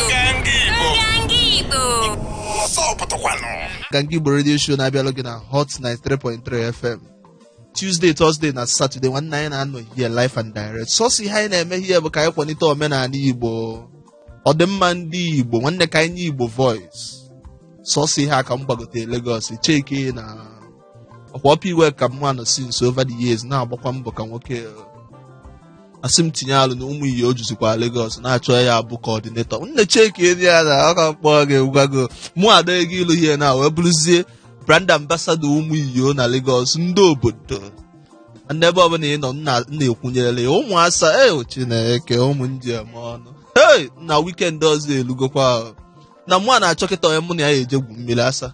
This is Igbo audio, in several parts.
Nganga Igbo. Nganga Igbo. Ọzọ pụtakwanụ. Nganga Igbo Radio Show na-abịalụ gị na Hot 93.3 FM Tuesday, Thursday na Saturday nwanne anyị na-anọ here live and direct sọsọ ihe anyị na-eme here bụ ka anyị kwanite omenaanị Igbo ọdịmma ndị Igbo nwanne ka anyị nye Igbo voice sọsọ ihe a ka m gbagote Lagos cheke na ọ kwa Upper Iweka mụ anọ since over the years na-agbakwa mbọ ka nwoke a sị m tinye alụ na ụmụ iyo juzikwa Lagos na-achọ ya abụ coordinator nne cheki edi ya na ọ ka mkpọrọ gị gwago mụ ada ego ilu ihe na wee bụrụzie brand ambassador ụmụ iyo na Lagos ndị obodo ndị ebe ọbụla ị nọ m na- m na-ekwunyere ya ụmụ asa e Chineke ụmụ ndị eme ọnụ hey na weekend ọzọ elugokwa ahụ. na mụ a na-achọ kịta onye mụ na ya eje gwu mmiri asa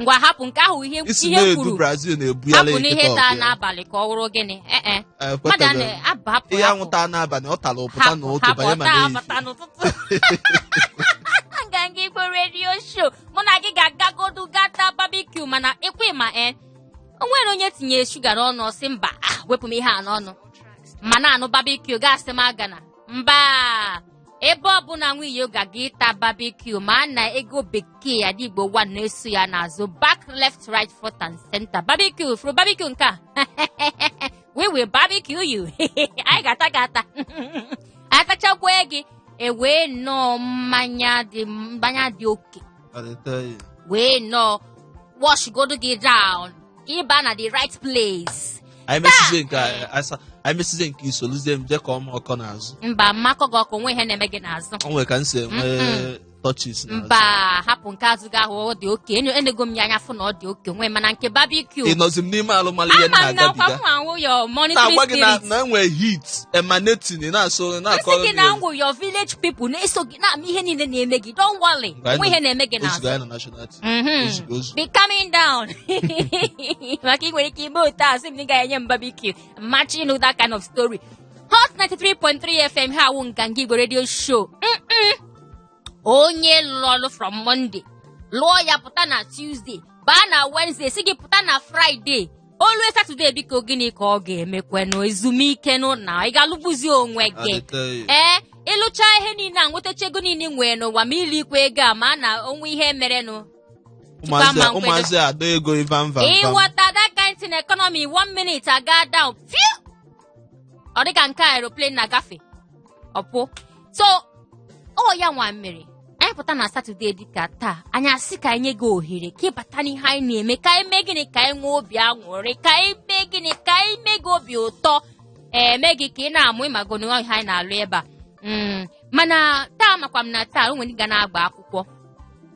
ngwa hapụ nke ahụ ihe isi ihe na-edu kwuru brazil na-ebu ya hapụ n'ihe taa le kịta n'abalị ka ọ wụrụ gịnị ee e mmadụ a na-aba hapụ ihe hapụ anwụta n'abalị ọ tara ụpụta na hapụ otu hapụ banye ma ọta na-eyi abata n'ụtụtụ nganga igbo radio show mụ na gị ga-agagodu ga ta barbecue mana ị kwa ma e o nwere onye tinyere sugar n'ọnụ ọ sị mba ah, wepụ m ihe a n'ọnụ ma na-anụ barbecue ga-asị m agana mba ebe ọbụla nwa iyo ga-aga ịta barbecue ma a na ego bekee ada igbo one na-eso ya n'azụ back left right front and center barbecue furu barbecue nke a we will barbecue you anyị ga-ata gị ata atachakwa gị e wee ṅụọ mmanya dị mmanya dị okay I dey tell you. wee ṅụọ washgodo gị down ka ị ba na the right place anyị mesizie nke a- asa anyị mesizie nke i soluzie m jee kọọ m ọkọ n'azụ mba m ma akọ gị ọkọ nwe ihe na-eme gị n'azụ o nwere ka m si enwe touches n'azụ mba hapụ nke azụ gị ahụ ọ dị okay enyo enego m ya anya fụ na ọ dị okay nwe mana nke barbecue ị nọzi m n'ime alụmalụ ihe m ama m na akwa na-agabiga m anwụ yo monitoring na-agwa gị na spirit na enwe heat emanating ị na-asụ esi na-akọrọ gị m na ya. ngwụ your village people na-eso gị gị na-ama ihe niile na-eme gị don't worry nwe ihe na-eme gị n'azụ mhm. be coming down maka ị nwere ike ime otu a sị m na ị gaghị enye m barbecue match you know that kind of story hot 93.3 fm ihe a wụ nganga igbo radio show onye lụrụ ọrụ from monday lụọ ya pụta na tuesday baa na wednesday si gị pụta na friday o lue Saturday biko gịnị ka ọ ga-emekwenụ ezumike nụ na ị ga-alụgbuzi onwe gị ee ị lụcha ihe niine a nwetacha ego niine ị nwere n'ụwa ma i likwa ego a mana o nwe ihe merenụ ụmụazị ada ego ivanva ị ghọta that kind thing economy one minute aga down fiu ọ dịka nke aeroplane na-agafe ọpụ so ọ ya nwa mere anyị pụta na satọde dịka taa anyị asị ka anyị nye gị ohere ka ị bata n'ihe anyị na-eme ka anyị mee gịnị ka anyị nwee obi aṅụrị ka anyị mee gịnị ka anyị mee gị obi ụtọ mee gị ka ị na-amụ ị mago na ihe anyị na-alụ ebe a Mm, mana taa amakwa m na taa o nwere ndị ga na-agba akwụkwọ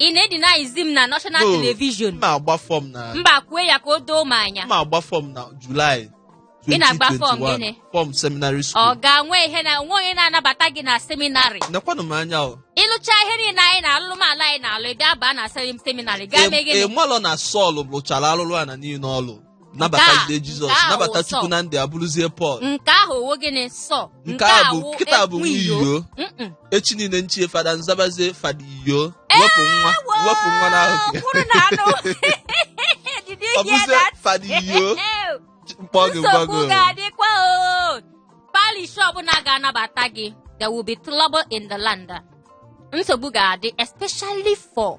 ị na-edenyzi m na national No. television m na-agba fọm na mba kwue ya ka o doo m anya m na-agba fọm na julaị Ị na-agba fọm 2021, gịnị? fọm seminary ọ school ga-enwe ihe na nwe onye na-anabata gị na seminarị nekwanụ m anya o ị lụcha ihe niile anyị na-alụ m ala anyị na-alụ ị bịa baa na sem- seminarị gaa mee gịnị ị malụ na Sọl lụchara alụlụ ana niile ọ lụ nabata Nke a- jide jizọs nke a nabata wụ chukwu Sọ. na ndị abụrụzie pọl nke ahụ ọ wụ gịnị sọ nke a bụ kịta bụ nwa ekwu iyo Mm-mm. echi niile m chie fada m zabazie fada iyo wepụ nwa wepụ nwa n'ahụ gị kwuru na anụ Did you ọ hear bụzie that? fada iyo m kpọọ gị ngwa nsogbu gị ga-adịkwa o parish ọbụla ga-anabata gị there will be trouble in the land nsogbu ga-adị especially for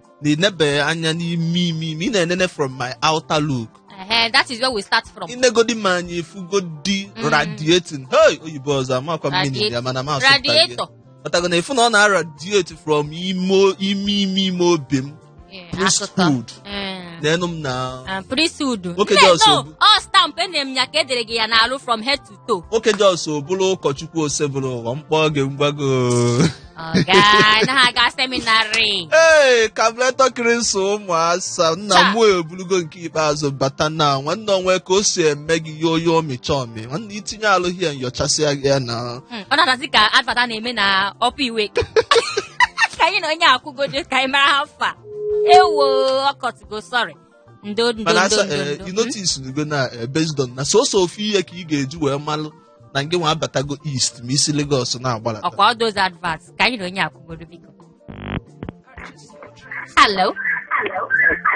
na ị nebeghị anya n'ime ime ime ị na-enene from my outer look Ehe, that is where we start from i negodi m anya ị fụgodi Mm. radiating hey oyibo ọzọ amakwa m meaning Radiate- ya mana m asụpụta gị ya. radiator pụtago na ị fụ na ọ na-aradiate from ime ime ime ime obi m Eh, akụkọ priesthood Eh. n'enu m na Ah, priesthood Nwoke Mbe, dị ọsọ no, bụ- ọ stamp enere m ya ka e dere gị ya n'alụ from head to toe. nwoke just bụrụ ụkọchukwu Osebụrụwa m kpọọ gị mgbago Ọga, na-aga seminarị. ee carburetor cleanser ụmụ asa nna Cha. mụ eburugo nke ikpeazụ bata na nwanne o nwe ka o si eme gị yo yo ọmịcha ọmị nwanne itinye alụghị ya nyochasịa gị ya na Mm, Ọ na-adazi ka advert a na-eme na Upper Iweka anyị na onye a kwugodo ka anyị mara how far. Ewo, ọ cutụgo, sorry. ndo ndo mana ndo asa ndo eh, ndo. you noticego na eh, based on na sọsọ ofu ihe ka ị ga-eji wee malụ na ngị nwa abatago east ma i si Lagos na-agbalata ọkwa all those adverts ka anyị na onye a kwugodo biko hello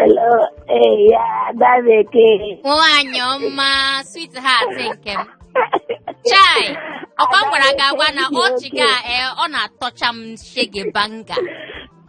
Hello, eh, ya ada bekee. nwaanyị ọma sweetheart nke m chai ọkwa m gwara gị agwa na ọchị gị a ee ọ na-atọcha m shege banza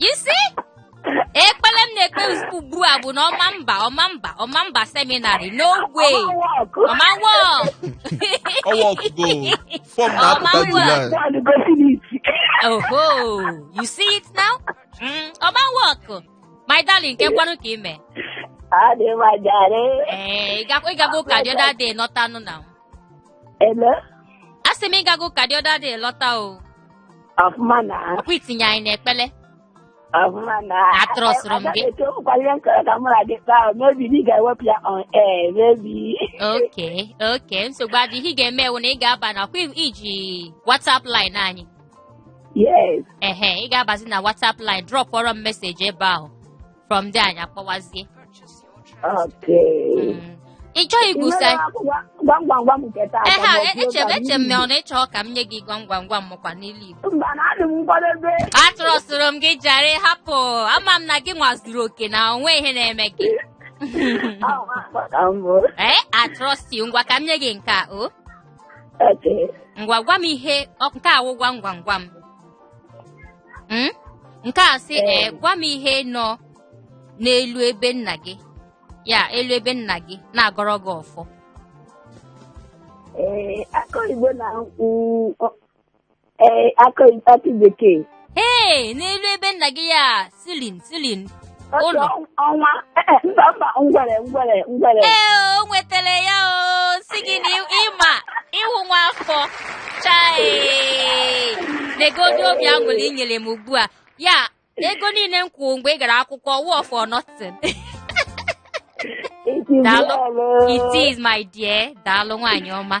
You see? Ekpele m na-ekpe ozugbo ugbu a bụ na ọma mba ọma mba ọma mba seminarị no way ọ ma work ọ workụgo fọm na-apụta Ọma July Nwaanyị gosi m isi. oho you see it now Mm, ọ ma work my darling kekwanụ ka i me Adị m mma jare. ee ị gakwa- ị gago ụka the other day nọtanụ na Ele, a sị m ịgago ka the other day lọta o ọfụma na ọkwa itinye anyị n'ekpele ọfụma na Atrọsụrụ m gị. Eto ụkwara ihe m chọrọ ka mụ na gị kpaa o, maybe na ị ga-ewepụ ya on air, maybe. okay okay nsogbu adịghị ihe ị ga-eme wụ na ị ga-aba na ọ kwa i ji whatsapp line anyị Yes, ehe ị ga-abazi na whatsapp line dropụọrọ m message ebe ahụ from there anyị akpọwazie Okay. Mm. ị chọghị Ị ikwusa nwere akwụkwọ gwam gwam gwam nke taa ehe ka ọ bụ eche otu eche m na ọ na ị chọ ka m nye gị gwam gwam gwam mụkwa n'ilu igbo Mba na adị m nkwadebe. atrọsụrụ m gị jare hapụ ama m na gị nwa zuru oke na o nwe ihe na-eme gị Ahụ akpa ka m bụ. ee I trust you ngwa ka m nye gị nke a o Okay. ngwa gwa m ihe ọ- nke a wụ gwam gwam gwam hmm? nke a sị ee eh, gwa m ihe nọ n'elu ebe nna gị ya elu ebe nna gị na-agọrọ gị ọfọ ee eh, akọ igbo na ee eh, akọ bekee ee n'elu ebe nna gị ya ceiling ceiling Otu ụlọ ọ- ọnwa eh, eh, mba mba ngwere ngwere ngwere ee o nwetara ya o si gị na ị- ị ma ị wụ nwa afọ chai negodi obi aṅụrị i nyere m ugbu a ya ego niile m kwụrụ mgbe ị gara akwụkwọ wụọ for nothing It is daalụ well, oh. it is my dear daalụ nwaanyị ọma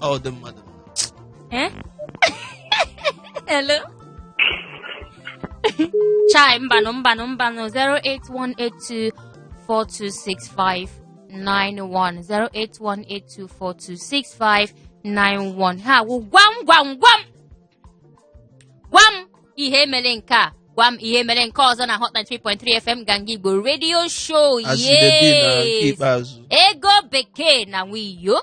ọ dị mmadụ Eh? Hello? Chai, mbanụ, mbanụ, mbanụ, 08182 4265 91 08182 4265 91 ha wụ gwam gwam gwam gwa m ihe mere nke a gwa m ihe mere nke ọzọ na hot 93.3 fm ganga igbo radio show As you dey be na nke yes ikpeazụ ego bekee na nwiyo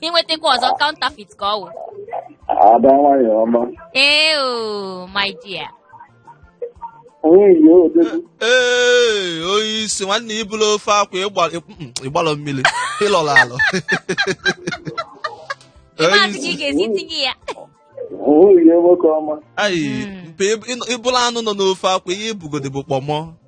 i nwetakwa ọzọ counterfeit ka ọ wụ ada nwanyị ọma ee o my dear onye yi odogwu ee onye isi nwanne ya ị bụlụ ofe akwa ịgba- mm, ị gbalọ mmiri ị lọlọ alọ ị maazị ka ị ga-esi tinye ya onye yi nwoke ọma ayi Mm. mpe ị bụlụ anụ nọ n'ofe akwa ihe ị bụgodị bụ kpọmọ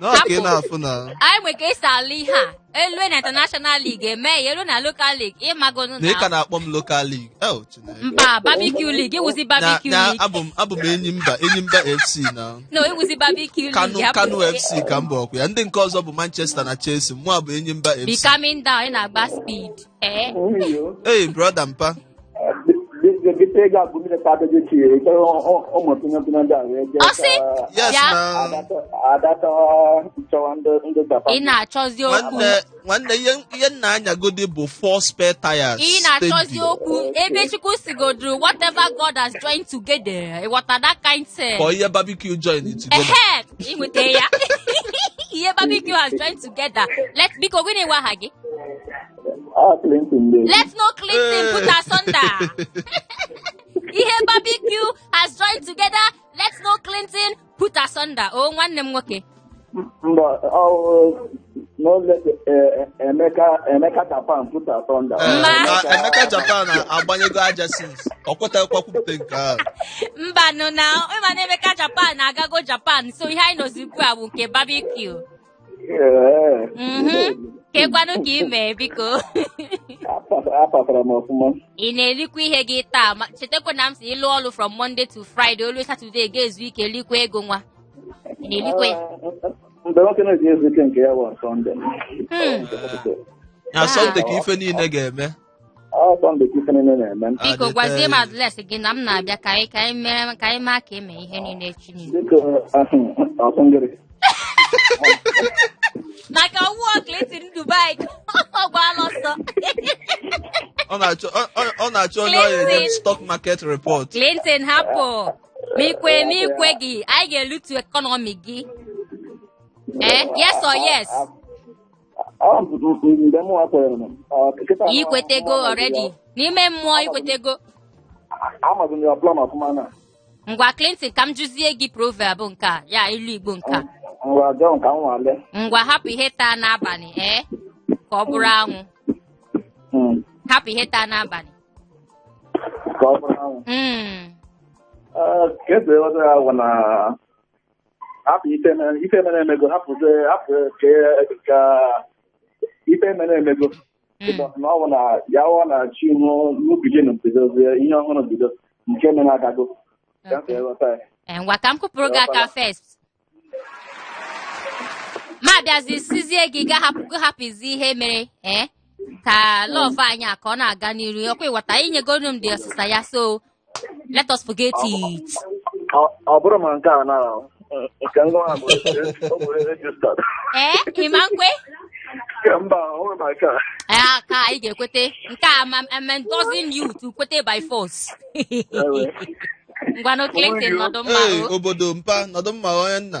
nwoke ị na-afụ na anyị nwe ka e si alụ ihe a e lue na international league e mee ya e lue na local league ị mago na ị ka na na-akpọ m local league el Chineke. mba barbecue league ị wụzi Na- barbecue na league abụ m abụ m Enyimba Enyimba fc na no ị wụzi barbecue kanu league kanu hapụ- fc ka m bụ okwu ya ndị nke ọzọ bụ manchester na chelsea mụa bụ Enyimba be fc calming down ị na-agba speed ee Oyo. hey brother mpa ọsị Yes, bịa na- ị na-achọzi okwu nwanne nwanne ihe ihe m na-anyagodi bụ four spare tires ị na-achọzi steady. okwu ebe chukwu sigoduru whatever god has joined together ịghọta that kind thing ka ihe barbecue join together ehe inweta ya ihe barbecue has joined together let biko gịnị wụ aha gị Ah, Clinton dey. Let no Clinton put asunder. Ihe barbecue has joined together. Let no Clinton put asunder. Oh, nwanne m nwoke. Mba, ọ no let eh, Emeka Emeka Japan put asunder. Eh, Ma. na- Emeka Japan agbanyego aja since ọ kwetaghịkwa kwupụta nke ahụ Mbanụ na ịma na Emeka Japan agago Japan so ihe anyị nọzi ugbu a bụ nke barbecue. Ee, Mhm. kekwanụ ka ị mee biko apa- apatara m ọfụma. ị na-erikwa ihe gị taa ma chetakwa na m sị ị lụọ ọrụ from Monday to Friday o lue Saturday ga-ezu ike likwa ego nwa ị na-erikwa ya Mgbe nwoke na-eji ezu ike nke ya bụ Sọnde. Hmm. na sọnde ka ife niile ga-eme Ọ Sọnde ka ife niile na-eme. Ọ biko dị gwazie m taa. address gị na m na-abịa ka anyị ka anyị mere ka anyị maa ka eme ihe niile echi niile Dịka ọsụngịrị. maka ọ wụ Clinton Dubai ọ gbaala ọsọ Ọ na-achọ ọ- ọ- ọ na-achọ onye ọ ya-enye Clinton. stock market report. clinton hapụ ma i kwe ma i kwegị anyị ga-elutu economy gị ee yes or yes Ọ m- m- m- mgbe mụ kwere m, ọ, kịta na- ikwetego mụ amaghị already ya. n'ime mmụọ ikwetego Amaghị m ya ọbụla na ọfụma na ngwa clinton ka m jụzie gị proverb nke a ya ilu igbo nke a ngwa ọjọọ nke m nwale ngwa hapụ ihe taa n'abalị ee ka ọ bụrụ anwụ Mm. hapụ ihe taa n'abalị ka ọ bụrụ anwụ Mm. Ee, ka esi eweta ya bụ na hapụ ife mere ife mere emego hapụzie hapụ ke ka ife mere emego ụbọchị na ọ bụ na ya ọ na chi ihu new beginning bidozie ihe ọhụrụ bido nke mere agago ka m wee ghọta ya Eh, ngwa ka m kụpụrụ gị aka first ma bịazi sizie gị ga hapụ gị hapụzi ihe mere eh, ka love anyị a ka ọ na-aga n'iru ọkwa ịghọta inyegonu m the ọsịsa ya so Let us forget it. Ọ- ọ bụrụ ma nke a na nke ngwa ahụ ọ bụ registered Ee, ị ma nkwe? nke mba ọ bụrụ ma nke a Ee, ka anyị ga-ekwete. Nke a ma I'm endorsing you to kwete by force. Ngwanụ Clinton nọdụ mma Ee, o. obodo mpa nọdụ mma onye nna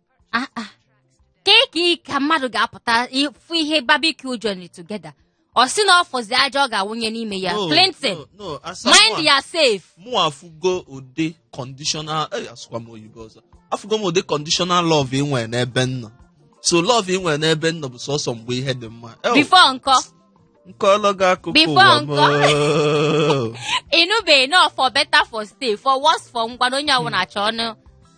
Ah, ah. ka ị ka ị ka mmadụ ga-apụta ịfụ ihe barbecue journey together ọ sị na ọ fọzi aja ọ ga-awụnye n'ime ya No, Clinton no, no, asa mind mụa- yourself mụ afụgo ụdị conditional eh, asụkwa m oyibo ọzọ afụgo m ụdị conditional love ị nwere n'ebe m nọ so love ị nwere n'ebe m nọ bụ sọsọ mgbe ihe dị mma Eh, before nkọ nkọlọ gị akụkọ Before ụwa m nkọ. oo. ịnụbeghị na for better for stay for worse for ngwa na onye ọbụla chọọ ọnụ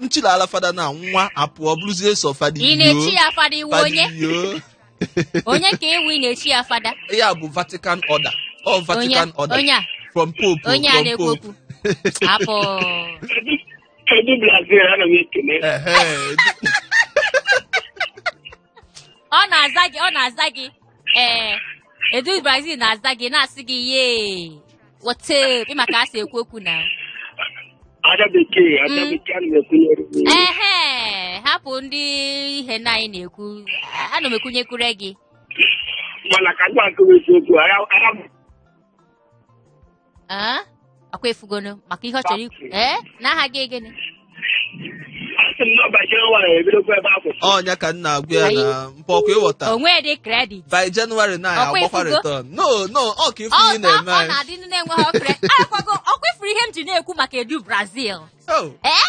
nchila ala fada na nwa apụọ bụrụzie sọ fada ị na-echi iyo ya fada ị wụ fada onye iyo onye ka ị wụ ị na-echi ya fada ya bụ vatican order ọ onye vatican order onye a from pope onye a from na-ekwu pope okwu apụ Edu Brazil ana m ekele. Ehe. ọ na-aza gị ọ na-aza gị ee Edu Brazil na-aza gị na-asị gị yeah what's up ị ma ka a si ekwu okwu na Ada bekee, ada Mm. bekee ana m ekwunyere gị. ehe hapụ ndị ihe na anyị na-ekwu A- ana m ekwunyekwure gị Mana ka m gwa nke bụ eziokwu, ara ara m Ee, ọkwa ifugonu maka ihe ọ chọrọ ikwu ee na aha gị gịnị Asị m na ọ bajere nwaanyị ebidokwa ebe a kwụsị. ọnya ka nna agwa ya na mpa ọkwa ịghọta o nwedị credit by January na Ọkwa agbakwa ifugo? return no no ọ ka ifu ọ ihe na-eme ọ anyị na-adị ndị na-enweghị ọkre arakwago ọkwa ifuru ihe m ji na-ekwu maka Edu Brazil Oh. ee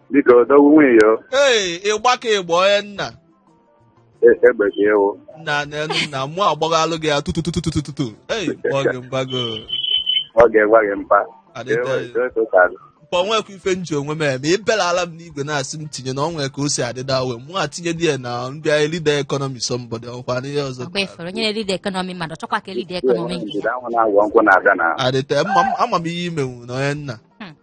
Biko odogwu nwunye ya ee ịgba ka ịgba onye nna egbe ka ewu. nna n'elu nna mụ agbaghalụ gị ya tututututututu ei kpọọ gị mgbago Ọ ga-egwa gị mpa. adịte mpa onwekwa ife nji onwe m eme ibelala m n'igwe na-asị m tinye na onwe ka o si adịda we mụ atinye di ya na ndị anyị leader economy somebody ọkwa n'ihe ọzọ ọkwa ifere onye na-elide economy mmadụ chọkwa ka elide economy nke ya Anwụ na-agwọ nkwụ na-abịa na adịte mma m- ama m ihe imenwu na onye nna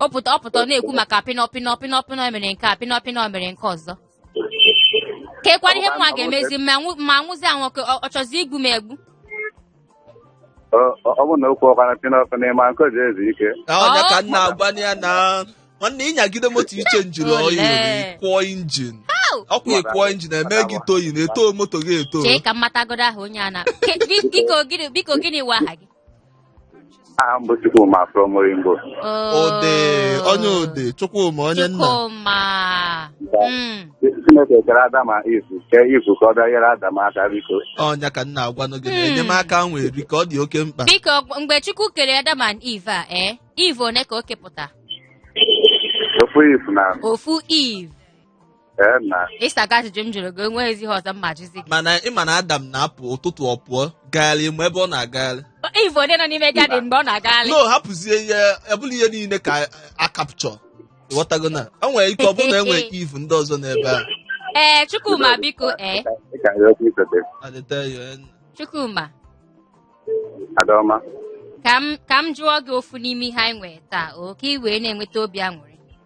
ọ pụta ọ pụta ọ na-ekwu maka pịnọ pịnọ pịnọ pịnọ mere nke a pịnọ pịnọ mere nke ọzọ kekwana ihe mụwa ga-emezi ma nwụ- ma nwụzi anwụ ka ọ- ọ chọzi igbu m egbu Ọ- ọ ọ bụ na okwu ọkwana pịnọ pịnọ ịma nke o ji ezu ike ọnya ka nna agwa ya na nwanne ịnyagide moto ị chenjiri oil wee kụọ injin ọkwa ị kụọ injin e mee gị towing na-eto moto gị eto chee ka m matagodo aha onye a na Ke- bi- biko gịnị biko gịnị wụ aha gị aha m bụ Chukwuma from Oyingbo ode onye ode chukwuma onye nna Chukwuma. Mm. Chineke kere Adam and Eve kee Eve ka ọ bịa nyere Adam aka biko ọnya ka nna agwanụ gị na enyemaka ahụ nwere ka ọ dị oke mkpa Biko gb- mgbe Chukwu kere Adam and Eve a ee Eve one ka o kepụta ofu Eve na ofu Eve ee na ịsago ajụjụ m jụrụ gị enweghịzi ihe ọzọ m ma-ajụzi gị mana ịma na adam na-apụ ụtụtụ ọ pụọ gagharị ma ebe ọ na-agagharị Eve o onye nọ n'ime gadin mgbe ọ na-agagharị no hapụzie ihe ọbụla ihe niile ka a capture ịghọtago na o nwere ike ọ bụrụ na enwere Eve ndị ọzọ n'ebe a ee chukwuma biko ee ị ka ya okwu isote I dey tell you, eh, chukwuma adaọma ka m ka m jụọ gị ofu n'ime ihe anyị nwere taa o ka ị wee na-enweta obi aṅụrị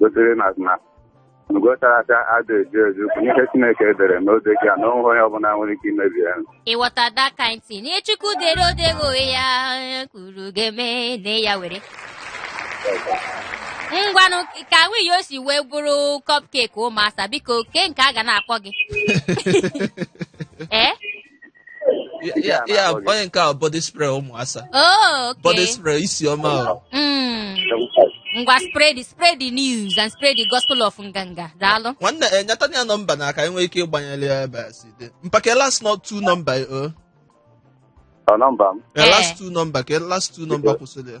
gosiri na na ugo chara acha ada echu echu bụ ihe Chineke dere na o dego ya na onweghị onye ọbụla nwere ike imebi ya ịghọta that kind thing ihe chukwu dere odego onwe ya onye kwuru ga-eme na ya were ngwanụ ka nwunye o si wee bụrụ cupcake ụmụasa biko kee nke a ga na-akpọ gị ee Ya- ya- ya onye nke a body spray ụmụasa Oh, body okay. spray isi ọma o. Mm. Ngwa spread the- spread the news and spread the gospel of nganga. Daalụ. nwanne eh, nyeta anyị nọmba na ka e nwee ike ịgbanyere ya ebe a si dị mkpa kee last not two nọmba o Ọ nọmba m Eh, last two nọmba kee last two nọmba kwụsịrị ya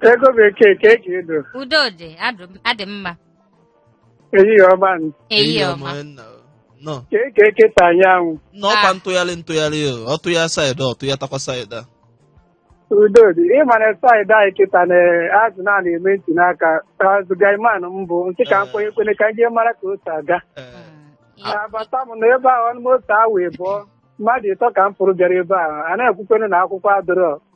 Ego bekee ka eji edo. udo dị adụ- adị mma Ehihie ọma nụ. ehihie ọma nna o. nọ Ka eke eketa anyanwụ. nọ ọkwa Ah. ntụgharị ntụgharị o ọ tụa saịdị ọ tụatakwa saịdị a Udo dị. Ị ma na saịdị anyị kịta na a sị na a na-eme ntinye aka. As guyman m bụ. M sị ka m kwenye kwene ka m jee mara ka o si aga. Ee, Abata m na ebe ahụ anọ m otu awa ịbụọ. Mmadụ ịtọ ka m fụrụ bịara ebe ahụ. A na-ekwukwenu na akwụkwọ adịrọ.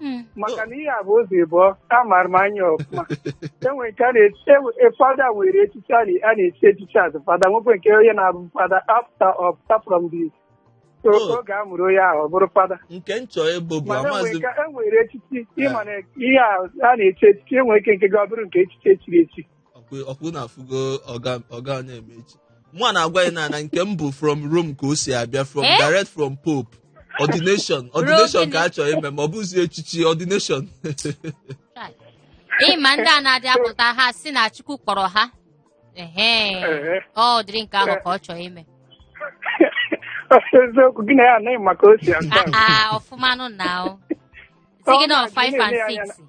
Mm. maka na ihe a bụ ụzọ ịbụọ a mara m anya ọfụma enwe nke a na-echi enwe- e- fada nwere echichi a na- a na-echi echichi as fada nwekwee nke onye na-abụ fada after ọ pụta from the so Oh. oge a mụrụ onye ahụ ọ bụrụ fada nke m chọọ ịbụ bụ mana enwe amazi nke enwere echichi ịma na ihe a a na-echi echichi enwe ike nke gị ọ bụrụ nke echichi echiri echi ọkwa na-afụgo ọga onye eme echi mụ na-agwa ya na nke m bụ from Rome ka o si abịa from eh? direct from Pope ordination ordination ka a chọrọ ime ma ọ bụzi echichi ordination ịma ndị a na-adị apụta ha si na Chukwu kpọrọ ha ụdịrị nke ahụ ka ọ chọrọ ime eziokwu gị na ya anaghị maka o si asa ọfụmanụ na ọ sị gị na 5 and 6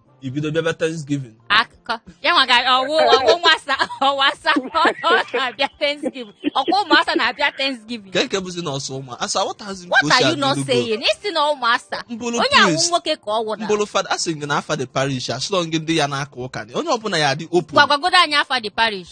ibido bịaba thanksgiving akụkọ ya nwa ga ọwụ ọwụ nwasa ọwụ asa ọ na-abịa thanksgiving ọkwa ụmụasa na-abịa thanksgiving kee nke bụzi na ọ sọ ụmụ asa aghọtaghịzi m ka o what si are you adị not n'ugbu a. saying ị sị na ụmụasa M bụlụ onye ahụ priest. nwoke ka ọ wụ na m bụrụ fada asị gị na afa the parish asụrọ gị ndị ya na-aka ụka na onye ọbụla ya-adị open gwa- gwagodu anyị afa the parish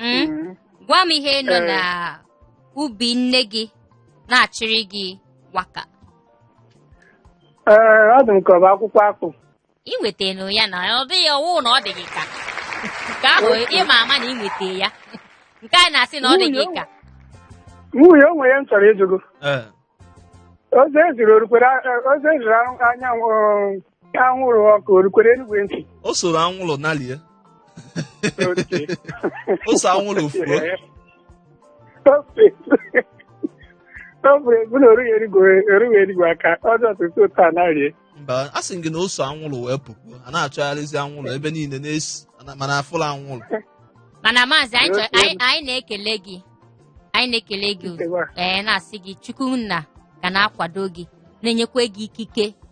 Mm? Mm. gwa m ihe nọ Eh. na ubi nne gị na-achịrị gị waka Ee, ọ dị m ka ọ bụ akwụkwọ akpụ. ị nwetara ya na ọ dị gị ọ wụ na ọ dị gị ka nke ahụ ị ma ama na ị nweta ya nke a na-asị na ọ dị gị ka Nwanne o nwere ihe m chọrọ ịjụ gị o. Ee. Ozi eziri o rukwere ozi eziri anwụrụ Ka anwụrụ ọkụ o rukwere enuigwe ntị. o soro anwụrụ nalie Oke. o so anwụrụ fuo Ofe. Ofe bụ na o rughị enuigwe o rughị enuigwe aka ọjọọ tutu ụtọ a na-arie. mba asị m gị na o so anwụrụ wee pụkwuo a na-achọgharịzi anwụrụ ebe niile na-esi ana- mana afụla anwụrụ mana maazị anyị chọrọ- anyị anyị na-ekele gị anyị na-ekele gị Nkewa. ee na-asị gị Chukwu nna ga na-akwado gị na-enyekwa gị ikike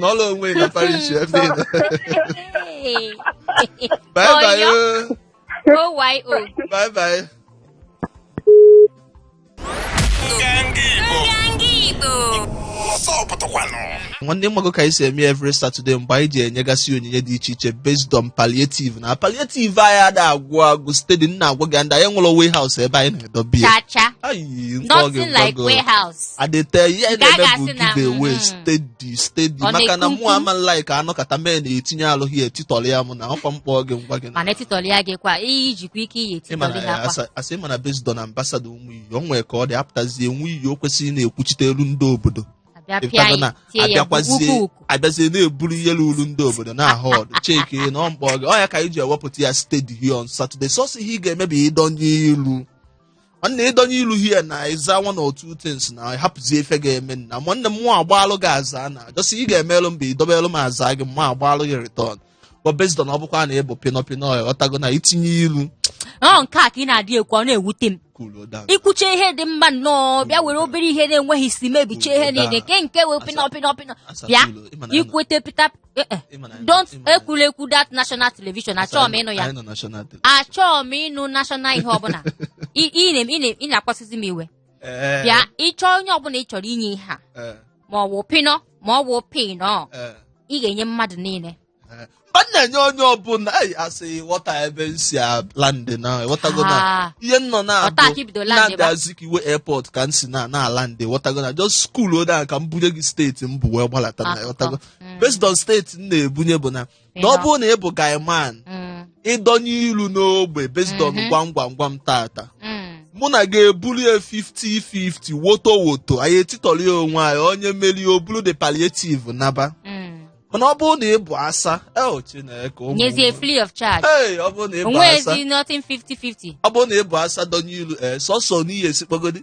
N'ọlụ onwe na parish ebe ị nọ. Hey. Bye bye. Oyo. oh. OYO. Bye bye. nwanne ịmago ka anyị si eme every Saturday mgbe anyị ji enyegasị onyinye dị iche iche based on palliative na palliative anyị ada agwụ agwụ steady m na-agwa gị ndị anyị nwere warehouse ebe anyị na-edobe ya Cha cha. Ayi, nke ọ Nothing ga-egwa like gị. warehouse. adete ihe Nke a na-eme bụ ga-asị na, give away mm, steady steady ọ maka na na-ekwu mụ ama like anọkata mee na-etinye alụghị ya etitọrọ ya mụ na ọkwa mkpọ gị ngwa gị na mana etitọli ya gị kwa iyi jikwa ike iyi ịma etitọli ha na kwa asa- asị mana based on ambassador ụmụ iyi o nwere ka ọ dị apụtazie nwe iyi o kwesịrị na-ekwuchite elu ndị obodo abịa pịa ịpụtago na ya tie ya ukwu abịakwazie ukwu abịazie na-eburu ihe ruru ndị obodo na ahụ ọdụ chike na ọ mkpọ gị ọ ya ka anyị ji ewepụta ya steady here on Saturday sọsọ ihe ị ga-eme bụ ịdọnye ilu nwanne ịdọnye ilu here na ịza one or two things na hapụzie ife ga-eme na nwanne m mụ agbaalụ gị aza na just ihe ị ga-emelụ m bụ idobelụ m aza gị mụ agbaalụ gị return but based on ọ bụkwa na ịbụ pịnọ pịnọ ịghọtago na itinye ilu ọ nke a ka ị na-adị ekwu ọ na-ewute m kwuru down. i kwucha ihe dị mma nnọọ bịa were obere ihe na-enweghị isi mebichie ihe niile nke nke wee pịnọ pịnọ pịnọ bịa ikwete pịta Eh, eh, Ị ma na- don't ị ma na- ekwula ekwu that national television achọọ m ịnụ ya Anyị nọ national day. achọọ m ịnụ national ihe ọbụla Ị- ị na- ị na- ị na-akpasuzi m iwe Eh, bịa ịchọ onye ọbụla ị chọrọ inye ihe a eh, ma ọ wụ pịnọ ma ọ wụ pịnọ eh, ị ga-enye mmadụ niile eh. Ọ na-enye onye ọbụla anyị asị ghọta ebe m si landị na ịghọtago na Ah, ihe m nọ na Ọta aka ibido land ebe a. Azikiwe airport ka m si na na-alandị ịghọtago na just school ode ahụ ka m bunye gị steeti m bụ wee gbalata na Akụkọ. ịghọtago based on steeti m na-ebunye bụ na ọ bụrụ na ị bụ guy man Mm, ị dọnye ilu n'ogbe based on Mhm. gwam gwam gwam taata mm, mụ na gị eburu ya 50-50 woto woto anyị etitọrọ ya onwe anyị onye merie o buru the palliative naba mm. mana ọ bụrụ na ị bụ asa el chineke ụmụ nyezie nwa. free of charge Hey, ọ bụrụ na ị bụ asa o nwezi nothing 50-50 ọ bụrụ na ị bụ asa dọnye ilu ee sọsọ n'ihe esikpogodi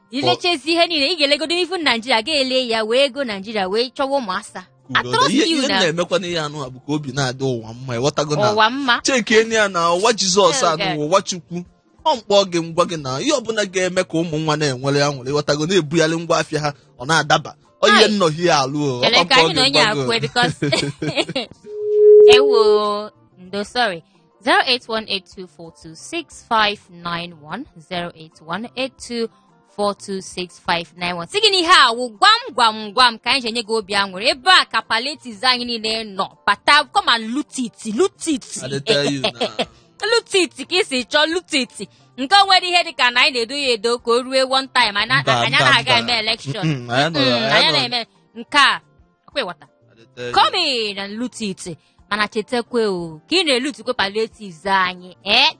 ilechezi ihe niile ị ga-elegodo ifu naijiria ga-ele ya wee ego naijiria wee chọwa ụmụ asa I Udo, trust ihe you ihe m now. na-emekwa n'ihe anụ a bụ ka obi na-adị ụwa mma ịghọtago na ụwa mma chekie ya na ụwa jizọs Hell, anụ yeah. ụwa chukwu ọ mkpọ gị ngwa gị na ihe ọbụla ga-eme ka ụmụ nwa na-enwere ya nwere ịghọtago na-ebugharị ngwa afịa ha ọ na-adaba ọ ihe Ai. nnọhi ya alụ o, ọ Ele ka mkpọ anyị gị na onye ngwa gị o. akwe bikos ewo ndo sorry 08182426591 08182426591 sị gị na ihe a wụ gwam gwam gwam ka anyị ji enye gị obi aṅụrị ebe a ka palliatives anyị niile nọ bata come and loot it loot it I dey tell you now. loot it ka i si chọọ loot it nke o nwere ihe dị ka na anyị na-edo ya edo ka o rue one time anyị Mba, anyị mba, na-aga mba. eme election Mm, anyị anọghị- anyị anyị anọghị- na-eme nke a Ọkwa ịghọta? Adịte- Come in and loot it. Mana chetakwa o, ka ị na-elutikwa palliatives anyị, eh?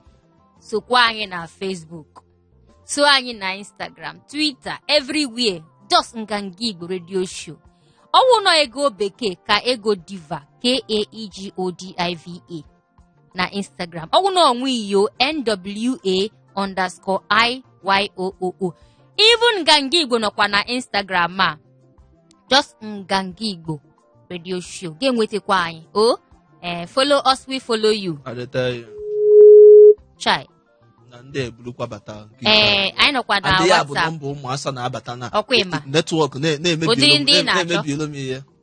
Sokwa anyị na Facebook. So anyị na Instagram, Twitter, everywhere. Just Nganga Igbo Radio Show. Ọ wụ na ọ Ego Bekee ka ego diva K-A-E-G-O-D-I-V-A. na instagram ọ wụ na ọ Nwa Iyo nwa underscore iyooo even nganga igbo nọkwa na instagram a just nganga igbo radio show ga-enwetakwa anyị o oh, eh, follow us we follow you chai na ndị ebulukwa bata ee eh, anyị nọkwa na WhatsApp bụ nọmba ụmụ asa na-abata na netwọk na-emebi olu m ihe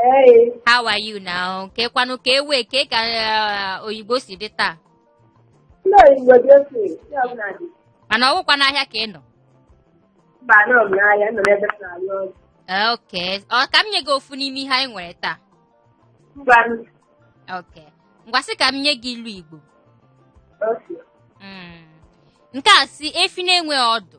Hey, How are you now? Kekwanụ ka ewe ke ka eh, Oyigbo si dị taa. ndị Oyigbo dị otu ndị ọbụla dị. Mana ọ wụkwa n'ahịa ka ị nọ. Mba anọ m n'ahịa nọ n'ebe m na-arụ ọrụ. Eh, Okay. Ka m nye gị ofu n'ime ihe anyị nwere taa. Mba m Okay. Ngwa sị ka m nye gị ilu Igbo. otu. Mm. Nke a sị efi na-enwe ọdụ.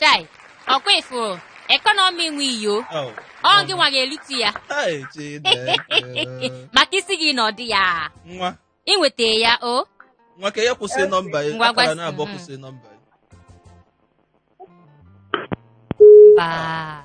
chai ọkwa ị fụrụ ekọnọmi Nwa Iyo Oh. ọ gịnwa ga-elutu ya Hey, Chineke. maka isi gị na ọ dị ya nwa i nweta ya o nwa ka ya kwụsị nọmba ya Ngwa akara gwa- na-abụọ mhm. kwụsị nọmba ya mba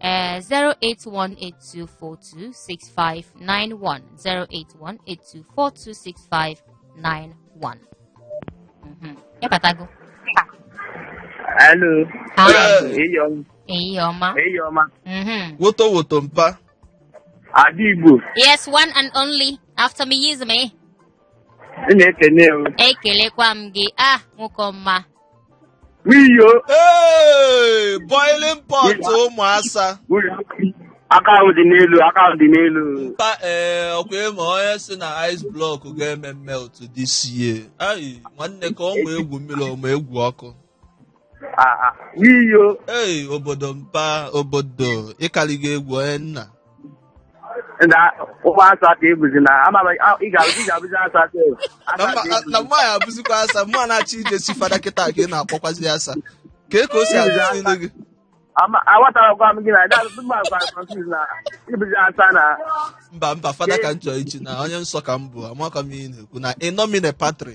uh, 08182426591 08182426591 Mhm. ịbatago Hello. Hi. Eyi ọma. eyi ọma Eyi ọma. Mhm. woto woto mpa Ada Igbo. yes one and only after me is me Ị na-ekene o. ekelekwa m gị ah nwoke ọma wiyo Hey, boiling pot ụmụ asa aka ahụ dị n'elu aka ahụ dị n'elu mpa ee ọkwa ị ma onye si na ice block ga-eme melt this year ayi nwanne ka ọ ma egwu mmiri ọ ma egwu ọkụ Ah, ah. wiyo ee obodo mpa obodo ịkarịgo egwu onye nna ụmụ asa ka ọ bụzi na ị ga-abụzi asa na mma ya abụzikwa asa mụwa na-achọ ije chi fada kịta ka ị na-akpọkwazi asa ka ka o si adị n'ile gị aghọtarakwa m gị na ị bụzi asa na mba mba fada ka m chọrọ ichi na onye nsọ ka m bụ amakwa m ihe na-ekwu na in nomine patri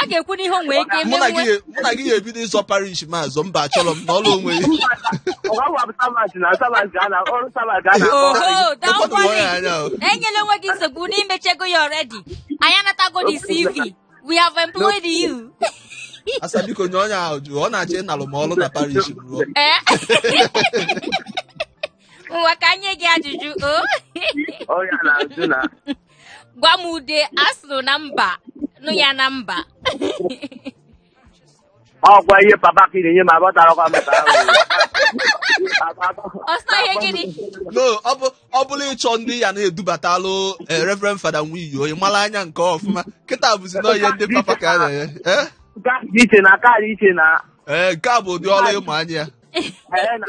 a ga-ekwu n'ihe o nwee ike mụ na gị menwe ya- mụ na gị ya-ebido ịzọ parish m azọ mba achọrọ m na ọrụ onwe ya oho don't Ụfọdụ worry nwere anya o. enyela onwe gị nsogbu na i mechego ya already anyị anatago the cv we have employed you asa biko nye onye ahụ ajụjụ ọ na-achọ ịnalụ m ọrụ na parish m rụọ Eh? ngwa ka e nye gị ajụjụ o gwa m ude a sụrụ na mba nụ ya na mba ọkwa ihe papa ka ị na-enye m aghọtarakwa m ka ọsọ ihe gịnị no ọ bụ ọ bụla ịchọ ndị ya na-edubatalụ eh, reverend fada nwaanyị onye mara anya nke ọfụma kịta bụzi na ihe ndị papa ka a na-enye Eh? nke a dị iche na nke a dị iche na ee nke a bụ ụdị ọrụ ịmụ anya ya ee, na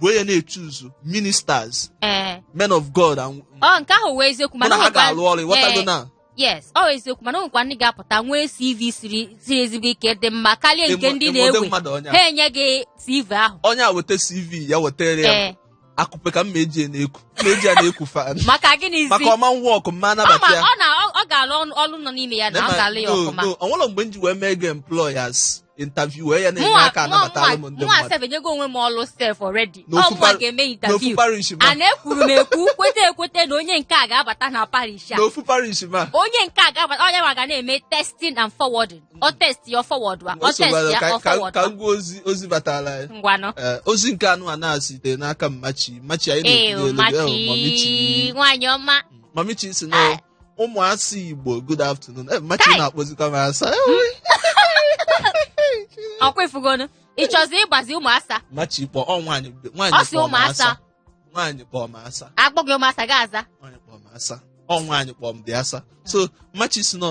bụ onye na-echoose ministers ee men of god and ọ nke ahụ wụ eziokwu mụ na mana ha o nwekwa- ga-alụ ọrụ ịghọtago Ee, na yes ọ wụ eziokwu mana o nwekwa ndị ga-apụta nwee cv siri siri ezigbo ike dị mma karịa nke Emo- ndị emode na-ewe mmadụ ọnya. ha enye gị cv ahụ onye a weta cv ya wetara ya ee akụpe ka mma eji ya na-eku mma eji ya na-eku fan maka gịnịzi maka ọ ma work mma ọ ma anabata ya ọ na ọ- ọ ga-alụ ọnụ- ọlụ nọ n'ime ya na ọ ga-alụ ya ọfụma o nwere mgbe m ji wee mee gị employ as interviewer ya na-enye aka anabatalụ m ndị mụnwa mmadụ sef enyego onwe m ọlụ sef already N'ofu ọ mụnwa par- ga-eme n'ofu interview parish ma a na-ekwuru m ekwu kwete ekwete na onye nke a ga-abata na parish a n'ofu parish ma onye nke a ga-abata onye ma ga na-eme testing and forwarding ọ test ya ọ forward wa ọ test ya ọ ka forward ka wa ngwa ozi ozi batara anyị ngwanụ Ee, ozi nke anụwa na-asite n'aka mmachi mmachi anyị ee na-ekwu n'elu, ee, mmachi mamichi nwaanyị ọma mamichi si na ụmụasa igbo good afternoon Eh, machi Kai! na-akpọzikwa m asa ọkwa ị fugonu ị chọzi ịgbazi ụmụasa machi kpọ ọ nwaanyị nwaanyị ọ si kpọ m ụmụasa asa nwaanyị kpọ m asa akpọ gị ụmụasa gị aza nwaanyị kpọ m asa ọ nwaanyị kpọ m dị asa so machi si nọ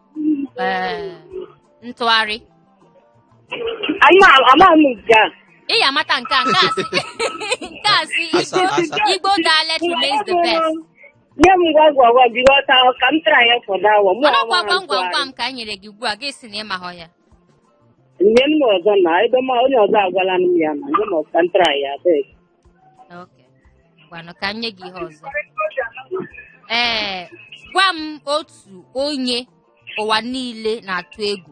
ee ntụgharị amaghị m nke a ị ya amata nke a nke a si nke a si Asa, Igbo- asa. Igbo dialect remains the best nye m gwam gwam gwam gị ghọta ahụ ka m tara ya fọdụ awa mụ ọnọkwa amaghị gwam gwam ntụgharị. gwam ka anyị nyere gị ugbu a gị sị na ị mahọ ya nye m ọzọ na ebe ma onye ọzọ agwala m ya na nye m ọzọ ka m tara ya abeg ngwanụ ka m nye gị ihe ọzọ ee gwa m otu onye ụwa niile na-atụ egwu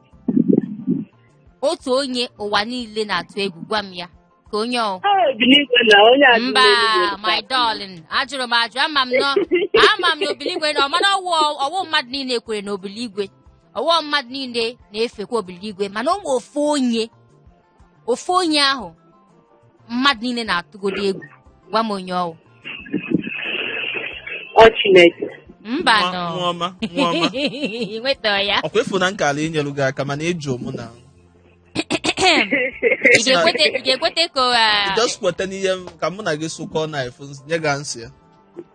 otu onye ụwa niile na-atụ egwu gwa m ya ka onye ọ mba my darling ajụrụ m ajụ ama m nọ ama m na obiligwe na ọ mana ọ wụ mmadụ niile kwere na obiligwe ọ wụ mmadụ niile na-efekwa obiligwe mana o nwe ofu onye ofu onye ahụ mmadụ niile na-atụgodi egwu gwa m onye ọ wụ Ọ Chineke. mba Nwa- nọ nwa ọma, nwa ọma. Ị nweta ya ọkwa ị fụ na m ka na-enyelu gị aka mana ị jụ mụ na ị ga-ekwete ị ga-ekwete ka ọ, ah, just kweta n'ihe m- ka mụ na gị sụkọọ na efu nye gị answer ya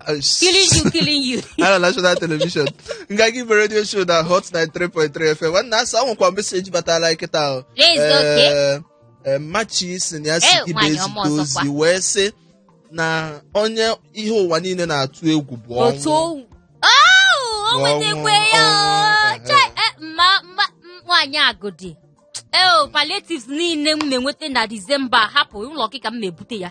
Uh, killing you killing you on national television nga gị bụ radio show na hot 93.3 fm nwanne asa o nwekwa message batara anyị kịta ahụ Yes, okay. Eh, eh, machi sị na ya si Eh, gị nwaanyị ọma na-ezite ọzọkwa. ozi wee sị na onye ihe ụwa niile na-atụ egwu bụ otu ọnwụ owu o nwetakwe ya Ọnwụ, o. Chai, eh, mma mma m- nwaanyị agụdị eo palliatives niile m na-enweta na disemba hapụ ụlọ gị ka m na-ebute ya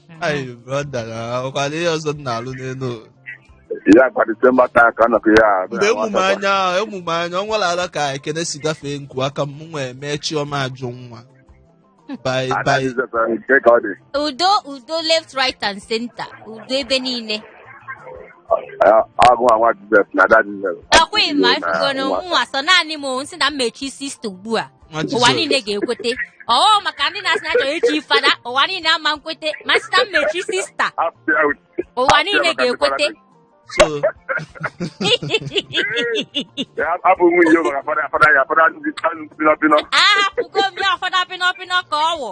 Ayi brọda na ọkwado ihe ọzọ m na-alụ n'elu ụwa. ya kwa disemba taa ka nọkọ ya ahụ. mgbe emume anya ahụ emume anya ọ nwere ala ka ekene si gafee nku aka m nwee mee chioma ajụ nwa bye bye Adaghị zọtara nke ka ọ dị. udo udo left right and center udo ebe niile Ọ- ọ bụ nwa Jizọs na ada Jizọs. ọkwa ị ma ị fugo na mụwa sọ naanị m o, m sị na m echi sista ugbu a Nwa ụwa Jizọs. niile ga-ekwete ọọ maka ndị na-asị na ha chọrọ ichi fada ụwa niile ama ekwete ma sịta m echi sista ụwa niile ga-ekwete so abụ nwe ihe maka fada fada ya fada ndị pịnọpịnọ ahapụgo m ya ụfọdụ apịnọpịnọ ka ọ wụ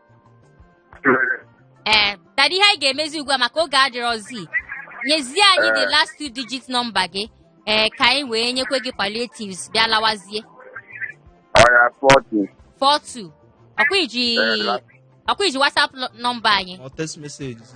ee tadị ihe anyị ga-emezi ugbu a maka oge adịrọzi nyezie anyị the last two digit nọmba gị ee ka anyị wee nyekwe gị palliatives bịa lawazie ọya 42 ọkwa i ji Ee, la- ọkwa i ji whatsapp nọ- nọmba anyị Or text message.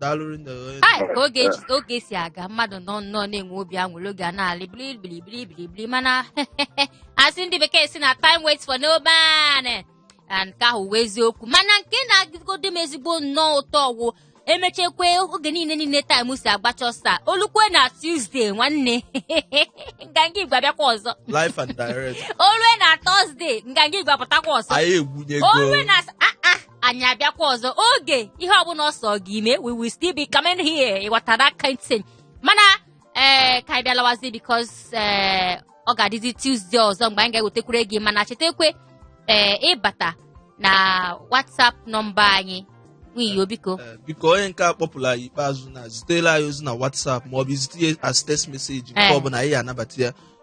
daalụrụ nne gị onye Ai, ka oge ji- oge si aga mmadụ nọ nnọọ na-enwe obi aṅụrị oge a na-alị bilibilibilibilibili mana asị ndị bekee sị na time waits for no man na nke ahụ wụ eziokwu mana nke na-atọgodi m ezigbo nnọọ ụtọ ọ wụ emechakwa oge niile niile time si agbacha ọsọ olukwe na Tuesday nwanne nganga Igbo abịakwa ọzọ live and direct olue na Thursday nganga Igbo apụtakwa ọzọ anyị egwunyego olue na ah ah anyị abịakwa ọzọ oge ihe ọbụla ọ sọ gị mee we will still be coming here ịghọta that kind thing mana ee ka anyị bịalawazi because ee ọ ga-adịzi Tuesday ọzọ mgbe anyị ga-ewetekwure gị mana chetakwe ee ị bata na WhatsApp nọmba anyị nwiyo biko Eh, biko onye nke a kpọpụrụ anyị ikpeazụ na zitela anyị ozi na WhatsApp maọbụ i zite ya as text message nke Eh. ọbụla anyị ga-anabata ya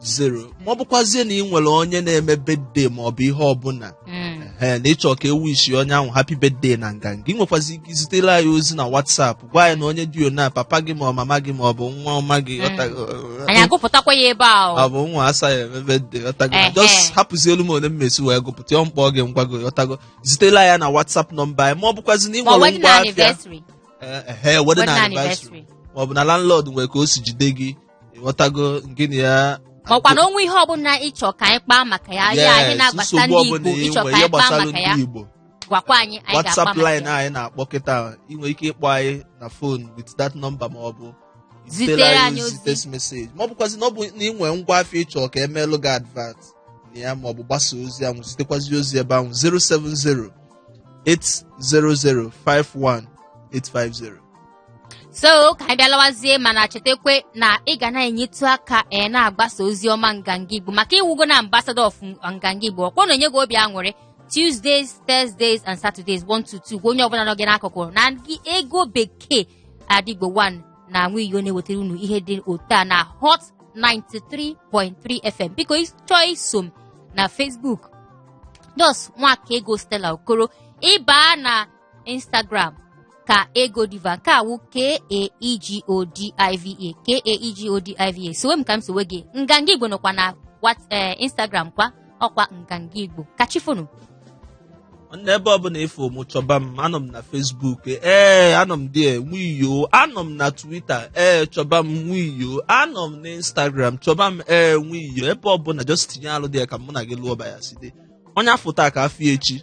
zero ma ọ bụkwazie na ị nwere onye na-eme birthday ma ọ bụ ihe ọbụla Mm. ee na ịchọ ka e wishie onye ahụ happy birthday na nganga ị nwekwazi ike izitere anyị ozi na WhatsApp gwa anyị na onye dị na papa gị ma ọ mama gị ma ọ bụ nwa ọma gị Mm. ọtago- anyị agụpụtakwa ya ebe a ọ o bụ nwa asa ya eme birthday ọtago Ehe. just hapụzielu m onye m ma-esi wee gụpụta ya m kpọọ gị m gwa gị ọtago zitere anyị na WhatsApp nọmba anyị ma ọ bụkwazi na ị ma nwere wedding ngwa afịa anniversary Ee, ehe, wedding wedding anniversary anniversary ma ọ bụ na landlord nwere ka o si jide gị ịghọtago gịnị ya makwa na o nwe ihe ọbụla ịchọ ka anyị kpaa maka ya ya anyị Yes, na-agbasa nsogbu ndị ọbụla Igbo ị ịchọ nwere ka ihe anyị kpaa gbasara maka ya ndị Igbo gwakwa anyị anyị ga-akpa WhatsApp maka line ya anyị na-akpọ kịta ị nwere ike ịkpọ anyị na phone with that number ma ọ bụ Zitere zitere anyị anyị ozi. text message ma ọ bụkwazi na ọ bụ na ị nwere ngwa afịa ịchọ ka e melụ gị advert na ya ma ọ bụ gbasa ozi ahụ zitekwazi ozi ebe ahụ 070 800 51850 so ka anyị bịalawazie mana chetakwe na ị ga na-enyetụ aka ee na-agbasa ozi ọma nganga igbo maka ị wụgo na ambassador of nganga igbo ọkwa na-enye gị obi aṅụrị tuesdays thursdays and saturdays 1 to 2 onye ọbụla nọ gị n'akụkụ na gị ego bekee Ada Igbo 1 na nwiyo na-ewetara unu ihe dị otu a na hot 93.3 fm biko chọọ iso m na facebook just nwakaego stella okoro ịbaa na Instagram kaegodiva nke a wụ k-a-e-g-o-d-i-v-a k-a-e-g-o-d-i-v-a sowe m ka m sowe gị nganga igbo nọkwa na wat ee instagram kwa ọkwa nganga igbo ka chi foonu n'ebe ọbụla ị fụ mụ chọba m anọ m na Facebook ee anọ m dee nwiyo anọ m na Twitter ee chọba m nwiyo anọ m na Instagram chọba m ee nwiyo ebe ọbụla just tinye alụ dị ya ka mụ na gị lụọba ya site onye a fụ taa ka a fụ echi